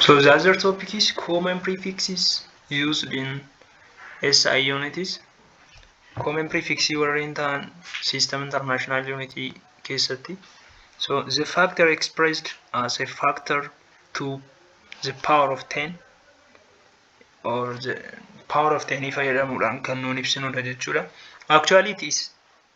So the other topic is common prefixes used in SI units. Common prefixes warreen ta'an system international unit keessatti. So the factor expressed as a factor to the power of 10 or the power of 10 fayyadamuudhaan kan nuun ibsinudha jechuudha. Actually it is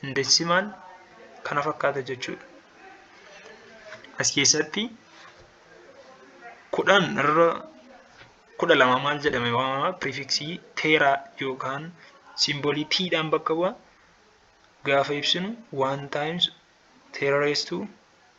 hin decimaal kana fakkaata jechuudha. As keessatti kudhan irra kudha lama maal jedhame waamama pirifiksii teeraa yookaan simboolii tiidhaan bakka bu'a gaafa ibsinu waan times teera reestuu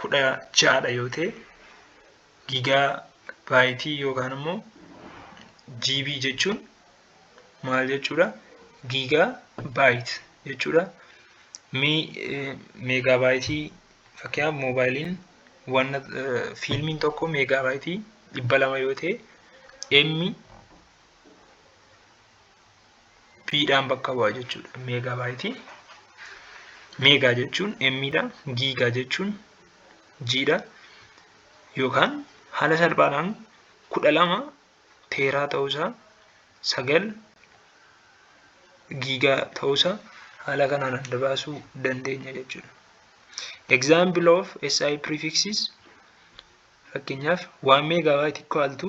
kudha ja'adha yoo ta'e gigaa baayitii yookaan immoo GB jechuun maal jechuudha gigaa baayit jechuudha mi meegaa baayitii fakkeenyaaf moobaayiliin wanna fiilmiin tokko meegaa baayitii dhibba lama yoo ta'e emmi p dhaan bakka bu'a jechuudha meegaa baayitii meegaa jechuun m dha giigaa jechuun g dha yookaan haala salphaadhaan kudha lama teeraa ta'uusaa sagal giigaa ta'uusaa haala kanaan adda baasuu dandeenya jechuudha. Example of SI prefixes fakkeenyaaf 1 meegaabaayitii equal to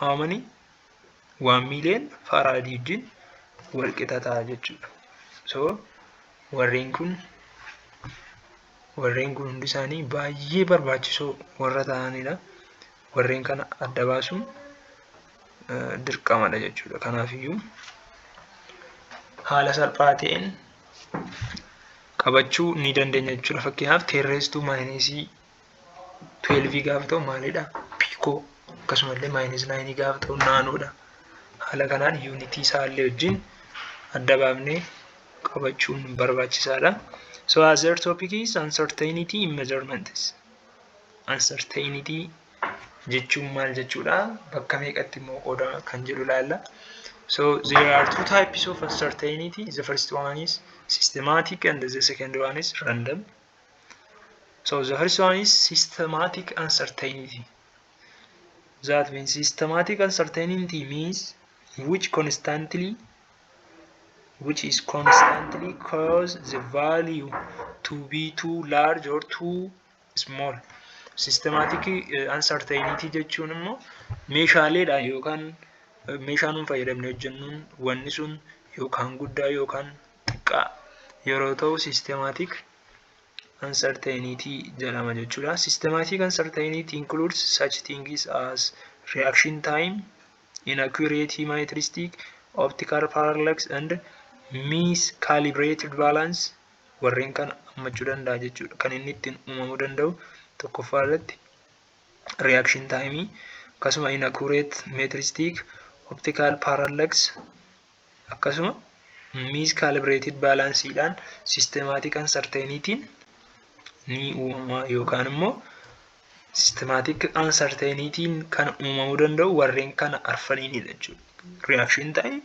how many waan miiliyoon faaraadii wajjin wal qixa ta'a jechuudha. So warreen kun warreen kun hundi isaanii baay'ee barbaachisoo warra ta'anidha. Warreen kana adda baasuun dirqamadha jechuudha. Kanaafiyyuu haala salphaa ta'een qabachuu ni dandeenya jechuudha. Fakkeenyaaf teerreestuu maayineesii 12 gaafa ta'u maalidha? Piikoo akkasumallee maayinus 9 gaafa ta'u naanoodha. Haala kanaan yuunitii isaallee wajjin adda baafnee qabachuun barbaachisaadha. So as our topic is uncertainty in measurements. Uncertainty jechuun maal jechuudha? Bakka meeqatti immoo qooda kan jedhu ilaalla. So there are two types of uncertainty. The first one is systematic and the second one is random. So the first one is systematic uncertainty. That means systematic uncertainty means which constantly which is constantly cause the value to be too large or too small. Systematic uh, uncertainty jechuun immoo meeshaaleedha yookaan meeshaa nuun fayyadamne hojjennuun wanni sun yookaan guddaa yookaan xiqqaa yeroo ta'u systematic uncertainty jedhama jechuudha. Systematic uncertainty includes such things as reaction time, inaccurate hemimetristic, optical parallax and miscalibrated balance warreen kana hammachuu danda'a jechuudha. Kan inni ittiin uumamuu danda'u tokkoffaa irratti reaction time akkasuma inaccurate metristic, optical parallax akkasuma miscalibrated balance dhaan systematic uncertainty ni uumama yookaan immoo systematic uncertainty kan uumamuu danda'u warreen kana arfaniinidha jechuudha. Reaction time,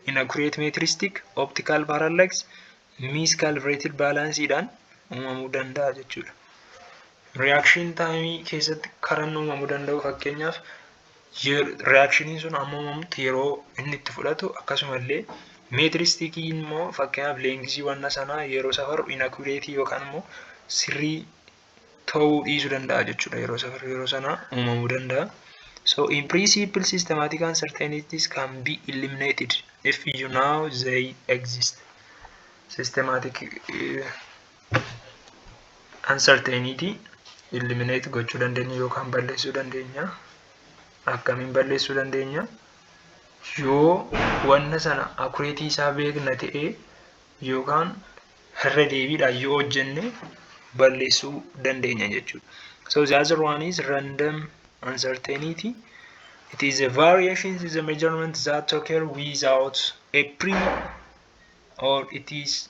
inaccurate metristic, optical parallax, miscalibrated balance dhaan uumamuu danda'a jechuudha. Reaction time keessatti karan uumamuu danda'u fakkeenyaaf Riyaakshiniin sun ammamumatti yeroo inni itti fudhatu akkasumallee meetiristiikii immoo fakkeenyaaf leengisii wanna sanaa yeroo safaru inakureetii yookaan immoo sirrii ta'uu dhiisuu danda'a jechuudha yeroo safaru yeroo sanaa uumamuu danda'a. So in principle systematic uncertainties can be eliminated if you know they exist. Systematic uh, uncertainty eliminate gochuu dandeenya yookaan balleessuu dandeenya akkamiin balleessuu dandeenya yoo wanna sana akureetii isaa beekna ta'e yookaan irra deebiidhaan yoo hojjenne balleessuu dandeenya jechuudha. So the other one is random uncertainty. It is a variation in the measurement that occur without a pre or it is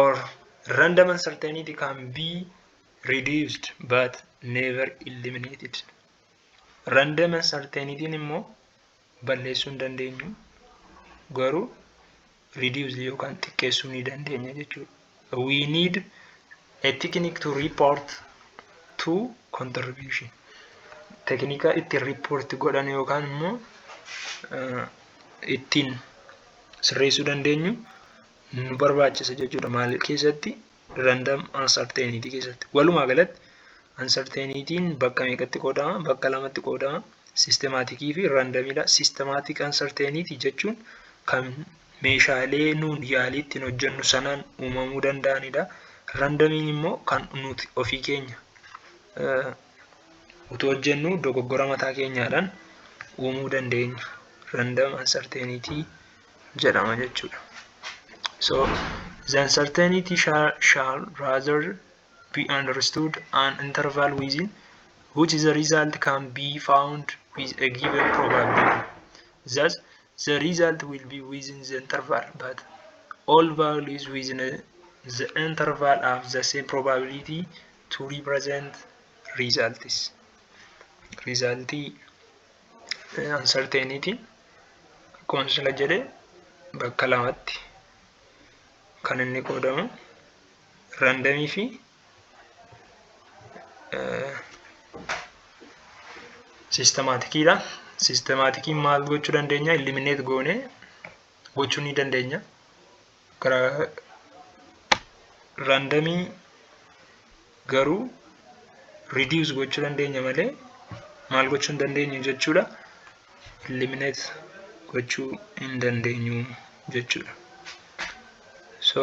or random uncertainty can be reduced but never eliminated random uncertainty immoo balleessuu hin dandeenyu garuu reduce yookaan xiqqeessuu ni dandeenya jechuudha we need A technique to report to contribution. Teknikaa ittiin report godhan yookaan immoo ittiin sirreessuu dandeenyu nu barbaachisa jechuudha. Maal keessatti random uncertainty keessatti. Walumaa galatti uncertainty'n bakka meeqatti qoodama? Bakka lamatti qoodama. Systematic fi randomidha. Systematic uncertainty jechuun kan meeshaalee nuun yaalii ittiin hojjennu sanaan uumamuu danda'anidha. Randamiin immoo kan nuti ofii keenya utuu hojjennu dogoggora mataa keenyaadhaan uumuu dandeenya. Random uncertainty jedhama jechuudha. So the uncertainty shall, shall rather be understood an interval within which the result can be found with a given probability. Thus, the result will be within the interval but all values within the interval have the same probability to represent results result uncertainty akkuma sila jedhe bakka lamatti kan inni qoodamu randamii fi Siistemaatikiidha. Siistemaatikiin maal gochuu dandeenya? Ilimineet goonee gochuu ni dandeenya. Karaa raandamii garuu ridius gochuu dandeenya malee maal gochuu hin dandeenyu jechuudha. Ilimineet gochuu hin dandeenyu jechuudha. So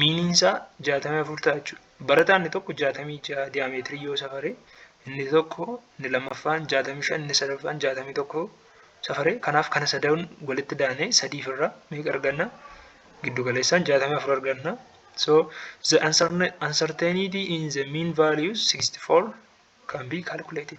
Miiniin isaa 64 ta'a jechuudha. Barataan inni tokko 66 diyaameetirii yoo safare, inni tokko inni lammaffaan 65 inni sadaffaan 61 safare. Kanaaf kana sadan walitti daanee sadiif irraa meeqa arganna? Giddu galeessaan 64 arganna. So the uncertainty in the mean values 64 can be calculated.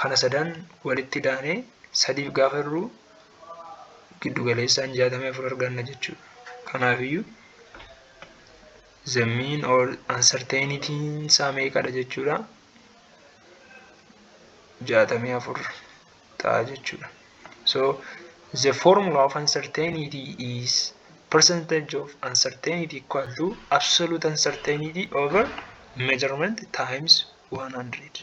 Kana sadan walitti daanee sadiif gaafa hir'uu giddu galeessaan 64 arganna jechuudha. Kanaafiyyuu the mean or uncertainty isaa meeqadha jechuudha. 64 ta'a jechuudha. So the formula of uncertainty is percentage of uncertainty equal to absolute uncertainty over measurement times 100.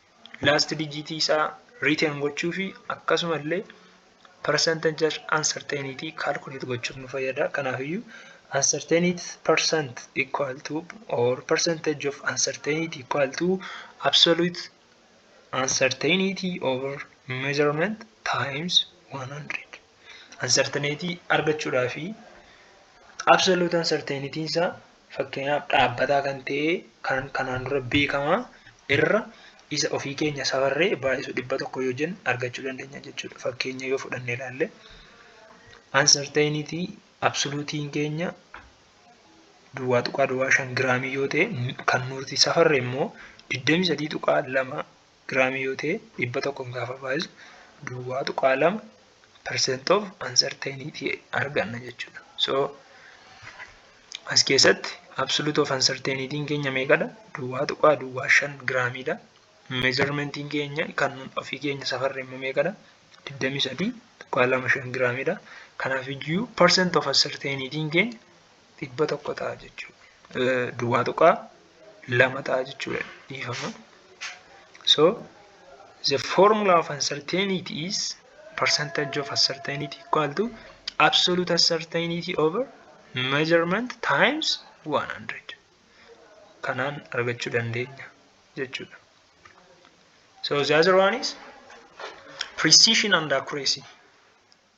laast dijiitii isaa riiteen gochuu fi akkasuma illee percentage uncertainty calculate gochuuf nu fayyada. Kanaafiyyuu uncertainty percent equal to or percentage of uncertainty equal to absolute uncertainty over measurement times 100. Uncertainty argachuudhaa fi absolute uncertainty isaa Fakkeenyaaf dhaabbataa kan ta'e kan kanaan dura beekamaa irra isa ofii keenya safarree baay'isu dhibba tokko yoo jennu argachuu dandeenya jechuudha. Fakkeenya yoo fudhannee ilaalle uncertainty absoluutiin keenya duwwaa tuqaa duwwaa shan giraamii yoo ta'e kan nuti safarre immoo digdamii sadii tuqaa lama giraamii yoo ta'e 100n gaafa baay'isu duwwaa tuqaa lama percent of uncertainty arganna jechuudha. So as keessatti absolute of uncertainty keenya meeqadha? Duwwaa tuqaa duwwaa shan giraamiidha. Meejarmentiin keenya kan ofii keenya safarre immoo meeqadha? 23 tuqaa lama shan giraamiidha. Kanaaf iyyuu percent of uncertainty keenya dhibba tokko ta'a jechuudha. Duwwaa tuqaa lama ta'a jechuudha dhiifama. So the formula of uncertainty is percentage of uncertainty equal to absolute uncertainty over measurement times 100. Kanaan argachuu dandeenya jechuudha. So the other one is precision and accuracy.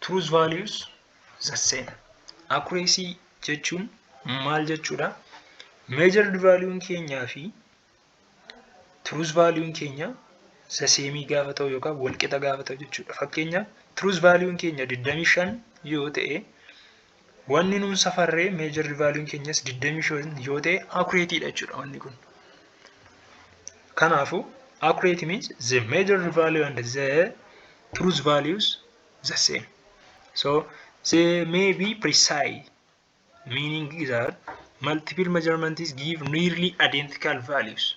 truth values the same accuracy jechuun maal jechuudha measured value keenyaa fi truth value keenya the same gaafa ta'u yookaan walqixa gaafa ta'u jechuudha fakkeenyaaf truth value keenya 25 yoo ta'e Wanni nuun safarree meejarri vaaliyuun keenyas 25 yoo ta'e akureetiidha jechuudha wanni kun. Kanaafuu accurate means the major value and the truth values the same. So they may be precise meaning that multiple measurements give nearly identical values.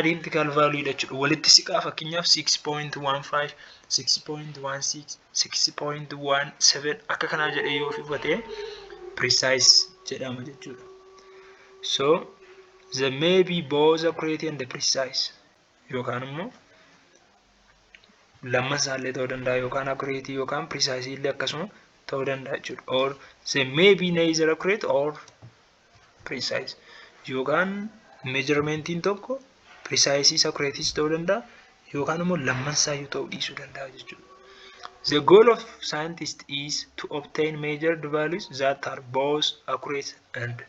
identical value dha jechuudha. Walitti siqaa fakkeenyaaf 6.15, 6.16, 6.17 akka kanaa jedhee yoo fufate precise jedhama jechuudha. So the may be both accurate and precise yookaan immoo lamman isaallee ta'uu danda'a yookaan accurate yookaan precise illee akkasuma ta'uu danda'a jechuudha. Or the may be neither accurate or precise yookaan meejarmeentiin tokko precise isa creatis ta'uu danda'a yookaan immoo lammansaayyuu ta'uu dhiisuu danda'a jechuudha. The goal of scientist is to obtain measured values that are both accurate and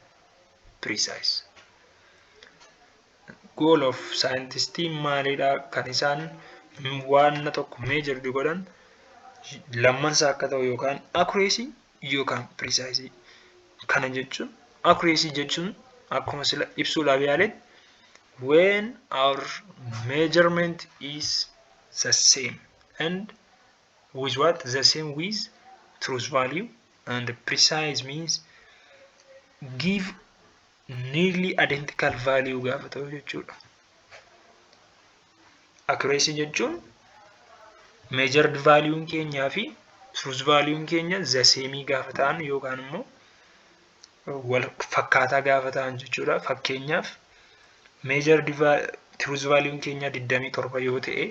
precise. Goal of scientist maalidha kan isaan waan tokko measured godhan lammansaa akka ta'u yookaan accuracy yookaan pirisaayisii. Kana jechuun accuracy jechuun akkuma sila ibsuu laaf yaaletti when our measurement is the same and with what the same with truth value and precise means give nearly identical value gaafa ta'u jechuudha. Accuracy jechuun measured value keenyaa fi truth value keenya the same gaafa ta'an yookaan immoo wal fakkaataa gaafa ta'an jechuudha. Fakkeenyaaf measured truth value keenya 27 yoo ta'e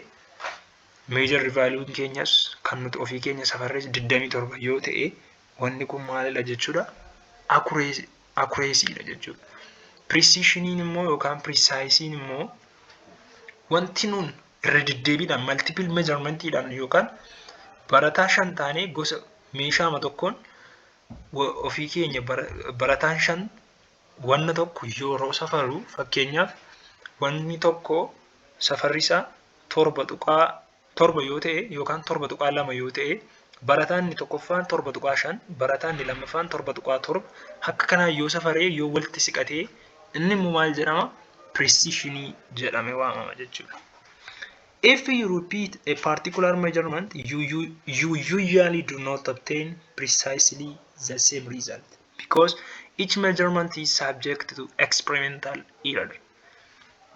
measured value keenyas kan nuti ofii keenya safarrees 27 yoo ta'e Wanni kun maalidha jechuudha? Akureesiidha jechuudha. Pirisiishiniin immoo yookaan pirisaayisiin immoo wanti nuun irra deddeebiidhaan maltipil meejarmentiidhaan yookaan barataa shan taanee gosa meeshaama tokkoon ofii keenya barataan shan wanna tokko yeroo safaru fakkeenyaaf wanni tokko safarri isaa torba tuqaa 7 yoo ta'e yookaan 7.2 yoo ta'e barataan inni tokkoffaan 7.5 barataan inni lammaffaan 7.7 akka kanaa yoo safaree yoo walitti siqatee inni immoo maal jedhama precisionii jedhame waamama jechuudha. If you repeat a particular measurement, you, you, you usually do not obtain precisely the same result because each measurement is subject to experimental error.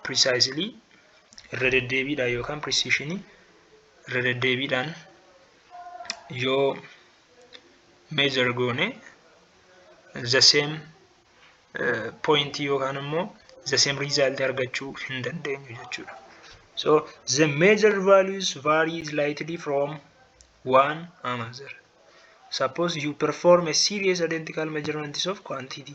precisely irra deddeebiidhaan yookaan precision irra deddeebiidhaan yoo measure goone the same uh, point yookaan immoo the same result argachuu hin dandeenyu jechuudha. So the major values vary slightly from one another. Suppose you perform a series identical measurements of quantity.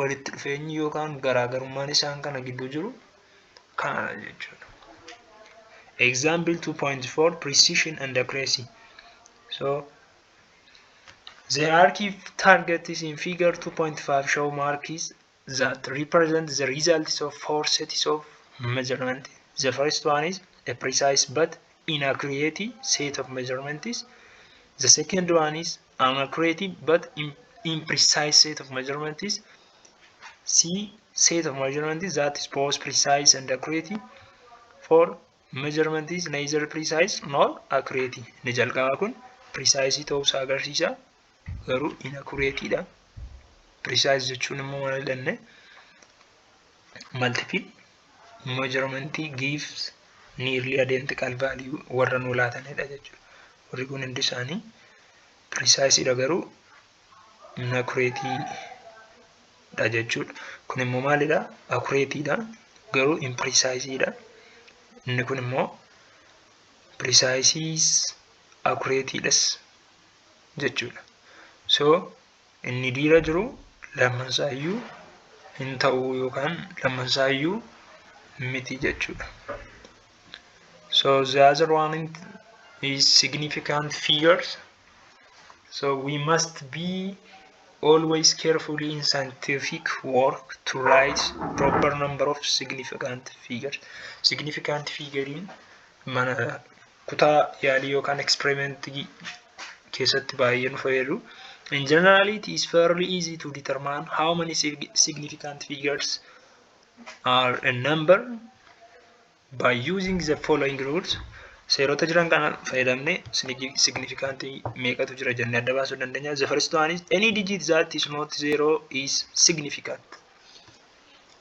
walitti dhufeenyi yookaan garaagarummaan isaan kana gidduu jiru kanadha jechuudha. Example 2.4 Precision and Accuracy. So the hierarchy targets in figure 2.5 show marks that represent the results of four sets of measurement. The first one is a precise but inaccurate set of measurements. The second one is An accurate but im- imprecise set of measurement is C. Set of measurement is that is both precise and accurate. For measurement is neither precise nor accurate. Inni jalqabaa kun precise ta'uu isaa agarsiisa. Garuu inaccurate dha. Precise jechuun immoo maal jenne? Multiple measurement gives nearly identical value warra nuu laatanidha jechuudha. Warri kun hundi isaanii precise dha garuu inaccurate dha jechuudha. Kun immoo maalidha? Accurate dha garuu imprecise dha. Inni kun immoo precise accurate dhas jechuudha. So Inni diira jiru lamman isaa iyyuu hin ta'uu yookaan lamman isaa iyyuu miti jechuudha. So the other one is significant figures. So we must be always carefully in scientific work to write proper number of significant figures. Significant figure mana kutaa yaalii yookaan experiment keessatti baay'ee nu fayyadu. In general, it is fairly easy to determine how many sig- significant figures are a number by using the following rules. Seerota jiran kana fayyadamne sig- significant meeqatu jira jennee adda baasuu dandeenya. The first one is any digit that is not zero is significant.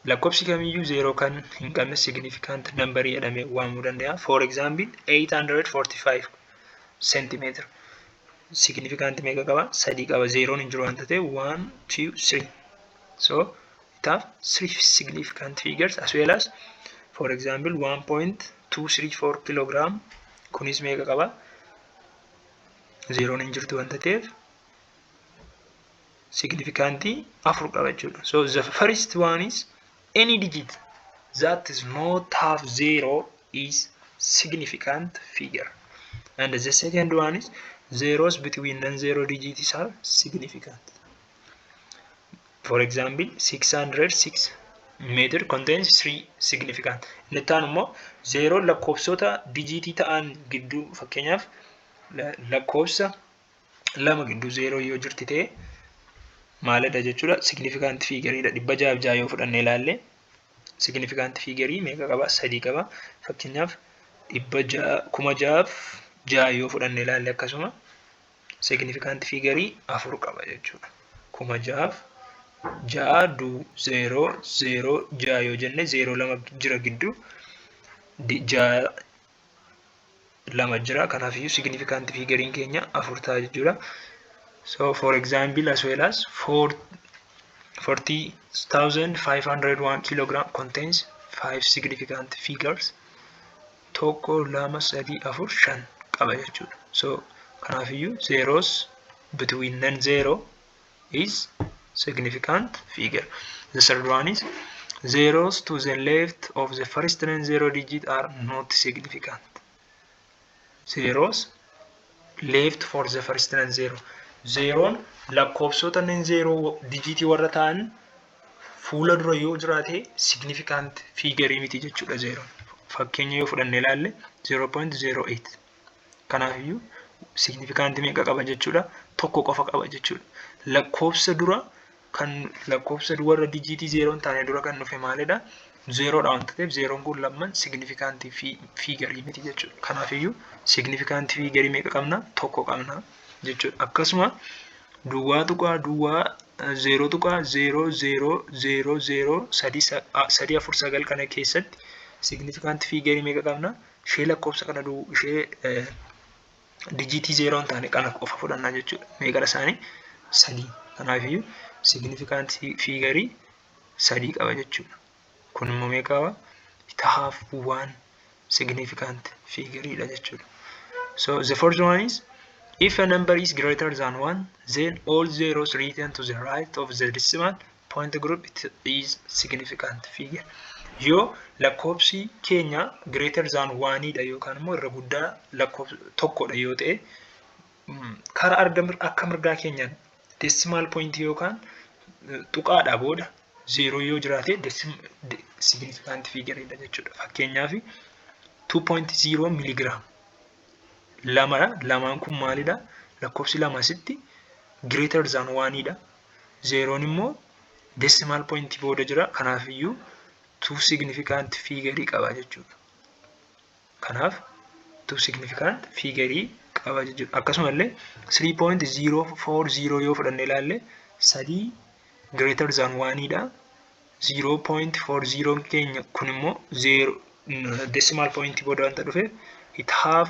Lakkofsi kamiyyuu zeeroo kan hin qabne significant number jedhame waamuu danda'a. For example 845 centimeter significant meeqa qaba? Sadii qaba. Zeeroon hin jiru waan ta'eef 1 2 3. So it have three significant figures as well as for example 1.234 kilogram kunis meeqa qaba? Zeeroon hin jirtu waan ta'eef signifikantii afur qaba jechuudha. So the first one is any digit that is not half zero is significant figure. And the second one is zeros between non-zero digits are significant. For example, 606 meter contains three significant. Inni itti aanu immoo zeeroo lakkoofsota dijiitii ta'an gidduu fakkeenyaaf lakkoofsa lama gidduu zeeroo yoo jirti ta'e maalidha jechuudha signifikant fiigariidha dhibba jaaf jaa yoo fudhanne ilaalle signifikant fiigarii meeqa qaba sadii qaba fakkeenyaaf dhibba jaa kuma jaaf jaa yoo fudhanne ilaalle akkasuma signifikant fiigarii afur qaba jechuudha kuma jaaf jaa du zeeroo zeeroo jaa yoo jenne zeeroo lama jira gidduu jaa lama jira kanaaf iyyuu significant figure keenya afur ta'a jechuudha so for example as well as 40,501 kilogram contains five significant figures tokko lama sadii afur shan qaba jechuudha so kanaaf iyyuu zeros between non zero is significant figure. The third one is zeros to the left of the first non zero digit are not significant. Zeros left for the first non zero. Zeroon lakkoofsota non zero dijiitii warra ta'an fuula dura yoo jiraate significant figure miti jechuudha zeroon. Fakkeenya yoo fudhanne ilaalle 0.08 Kanaafiyyuu signifikantii meeqa qaba jechuudha? Tokko qofa qaba jechuudha. Lakkoofsa dura kan lakkoofsa warra dijiitii zeeroo hin taane dura kan dhufe maalidha? Zeeroodha waan ta'eef zeeroon kun lamman signifikantii fi fiigarii miti jechuudha. Kanaafiyyuu signifikantii fiigarii meeqa qabna? Tokko qabna jechuudha. Akkasuma duwwaa tuqaa duwwaa zeeroo tuqaa zeeroo zeeroo zeeroo zeeroo sadii afur sagal kana keessatti signifikantii fiigarii meeqa qabna? ishee lakkoofsa kana du ishee dijiitii zeeroo hin taane kana qofa fudhannaa jechuudha. Meeqadha isaanii? Sadii. Kanaafiyyuu signifikaansii fiigarii sadii qaba jechuudha. Kun immoo meeqa qaba? It have one significant figure dha jechuudha. So the first one is if a number is greater than one then all zeros written to the right of the decimal point group it is significant figure yoo lakkoobsi keenya greater than waaniidha yookaan immoo irra guddaa lakkoobsa tokkodha yoo ta'e karaa arga akka mirgaa keenya decimal point yookaan tuqaadha booda zeeroo yoo jiraate significant figure dha jechuudha fakkeenyaaf 2.0 miligram lamadha lamaan kun maalidha lakkoobsi lama asitti greater than waaniidha zeeroon immoo decimal point booda jira kanaaf iyyuu two significant figure qaba jechuudha. Kanaaf two significant figure qaba jechuudha. Akkasuma illee 3.040 yoo fudhanne ilaalle sadii greater than 1 dha. 0.40 keenya kun immoo zeero decimal point booda wanta dhufe it have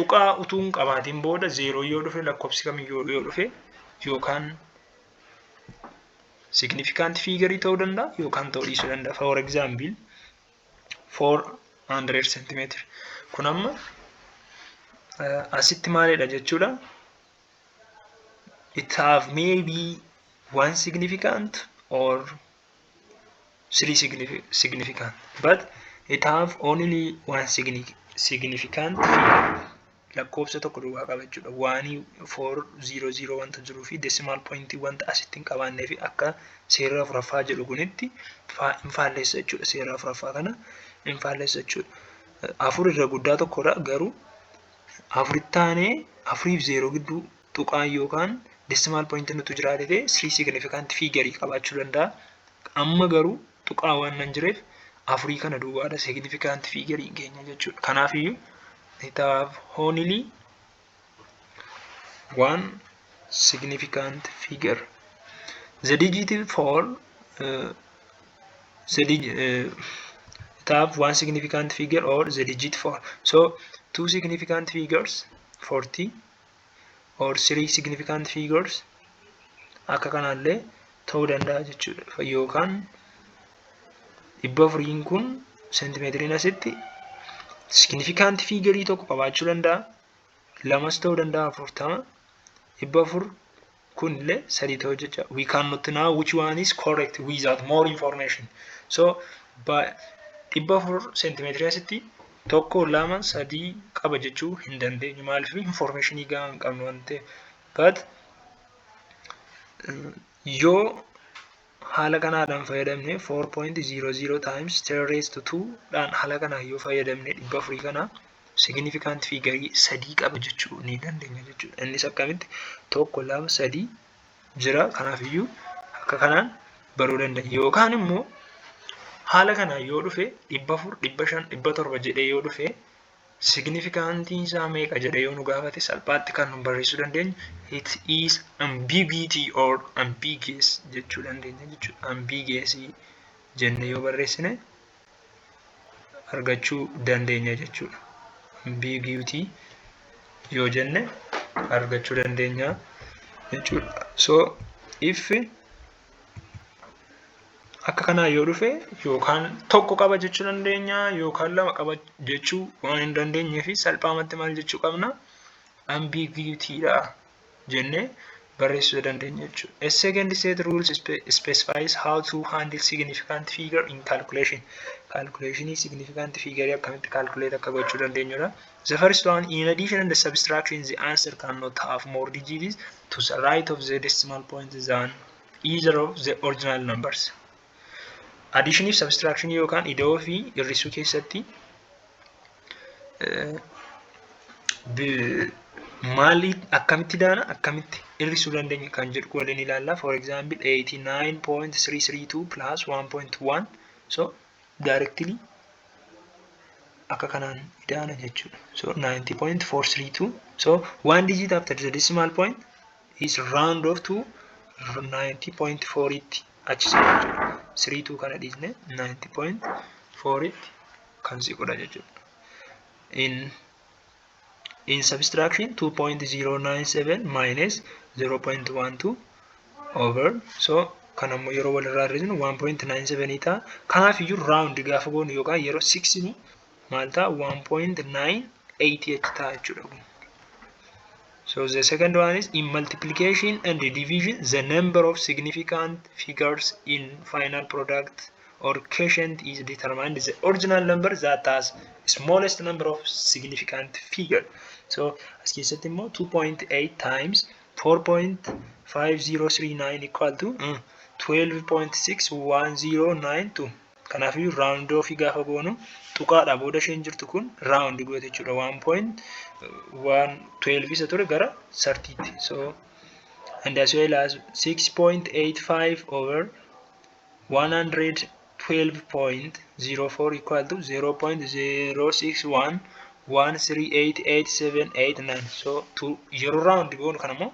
tuqaa utuu hin qabaatiin booda zeeroo yoo dhufe lakkoofsi kamiyyuu yoo dhufe yookaan significant figure ta'uu danda'a yookaan ta'uu dhiisuu danda'a. For example, 400 centimeter. Kun amma asitti maalidha jechuudha? It have maybe one significant or three signifi- significant but it have only one signi- significant lakkoofsa tokko duwwaa qaba jechuudha waanii four zero zero wanta jiruu fi decimal point wanta asitti hin qabaannee fi akka seera afuraffaa jedhu kunitti faa- hin faallessa jechuudha seera afuraffaa kana hin faallessa jechuudha afur irra guddaa tokkodha garuu afuritti aanee afuriif zeeroo gidduu tuqaan yookaan decimal point nutu jiraate ta'e three significant figure qabaachuu danda'a. Amma garuu tuqaa waan nan jireef afurii kana duwwaadha significant figure hin keenya jechuudha. Kanaaf iyyuu it have only one significant figure. The digit for uh, the dig uh, it have one significant figure or the digit for so two significant figures 40 or three significant figures akka kanaallee ta'uu danda'a jechuudha yookaan dhibba afuriin kun seentimeetiriin asitti significant figure tokko qabaachuu danda'a lamas ta'uu danda'a afurtama dhibba afur kun illee sadii ta'uu jecha we can not know which one is correct without more information so dhibba afur seentimeetirii asitti tokko lama sadii qaba jechuu hin dandeenyu maaliif informationii gahaa hin qabnu waan ta'eef but yoo Haala kanaadhaan fayyadamne 4.00 times 10 raised to 2 dhaan haala kanaan yoo fayyadamne dhibba afurii kana significant figure sadii qaba jechuu ni dandeenya jechuudha. Innis akkamitti tokko lama sadii jira kanaafiyyuu akka kanaan baruu dandeenya. Yookaan immoo haala kanaan yoo dhufe dhibba afur dhibba shan dhibba torba jedhee yoo dhufe Signifikantiin isaa meeqa jedhee yoo nu gaafate salphaatti kan nu barreessuu dandeenyu it is ambiguity or ambiguous jechuu dandeenya jechuudha. Ambiguous jennee yoo barreessine argachuu dandeenya jechuudha. Ambiguity yoo jenne argachuu dandeenya jechuudha. So if Akka kanaa yoo dhufe yookaan tokko qaba jechuu dandeenya yookaan lama qaba jechuu waan hin dandeenyee fi salphaamatti maal jechuu qabna ambiguity dha jennee barreessuu dandeenya jechuudha. A second set rules spe- specifies how to handle significant figure in calculation. Calculation significant figure akkamitti calculate akka gochuu dandeenyudha. The first one, in addition and the subtraction, the answer cannot have more digits to the right of the decimal point than either of the original numbers. Addition fi subtraction yookaan ida'oo fi hir'isuu keessatti maali akkamitti daana akkamitti hir'isuu dandeenya kan jedhu waliin ilaalla. For example, 89.332 plus 1.1 so directly akka kanaan ida'ana jechuudha. So 90.432 so one digit after the decimal point is round off to 90.4 tti achi siqu jechuudha. 32 kana dhiisne 90.4 tti kan siqudha jechuudha. In in subtraction 2.097 minus 0.12 over so kan ammoo yeroo walirraa hir'isnu 1.97 ta'a kanaaf iyyuu round gaafa goonu yookaan yeroo siksinu maal ta'a 1.988 ta'a jechuudha kun So the second one is in multiplication and division, the number of significant figures in final product or quotient is determined the original number that has smallest number of significant figure. So as keessatti immoo 2.8 times 4.5039 equal to mm, 12.6109 kanaaf iyyuu round off gaafa goonu tuqaadha booda isheen jirtu kun round goote jechuudha 1.112 isa ture gara 30 tti. So and as well as 6.85 over 112.04 equal to 0.0611388789 so to yeroo round goonu kana immoo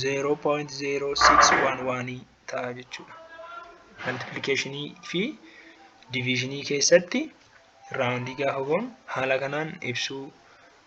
0.0611 ta'a jechuudha multiplication fi division keessatti round gaafa goonu haala kanaan ibsuu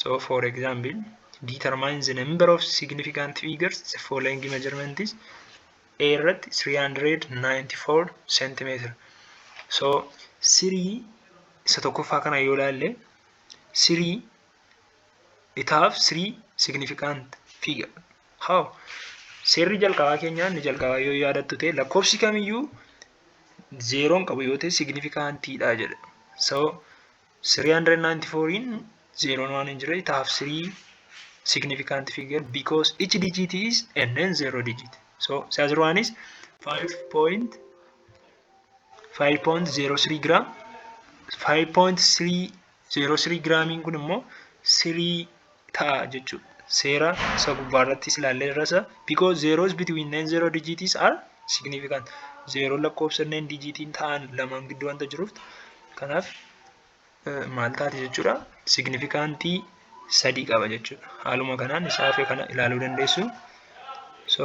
So for example, determine the number of significant figures the following measurement is A irratti 394 centimeter. So sirii isa tokkoffaa kana yoo ilaalle sirii it have three significant figure. How? Seerri jalqabaa keenyaa inni jalqabaa yoo yaadattu ta'e lakkoofsi kamiyyuu zeeroon qabu yoo ta'e signifikantiidha jedha. So 394n zeeroon waan hin jirre it have three significant figure because each digit is and then zero digit. So size one is 5.5.03 gram 5.303 gramiin kun immoo 3 ta'a jechuudha. Seera isa gubbaa irrattis ilaallee irrasa because zeros between nine zero digits are significant. Zeeroon lakkoofsa nine digitiin ta'an lamaan gidduu wanta jiruuf kanaaf maal taate jechuudha signifikantii sadii qaba jechuudha. Haaluma kanaan isaa hafe kana ilaaluu dandeessu. So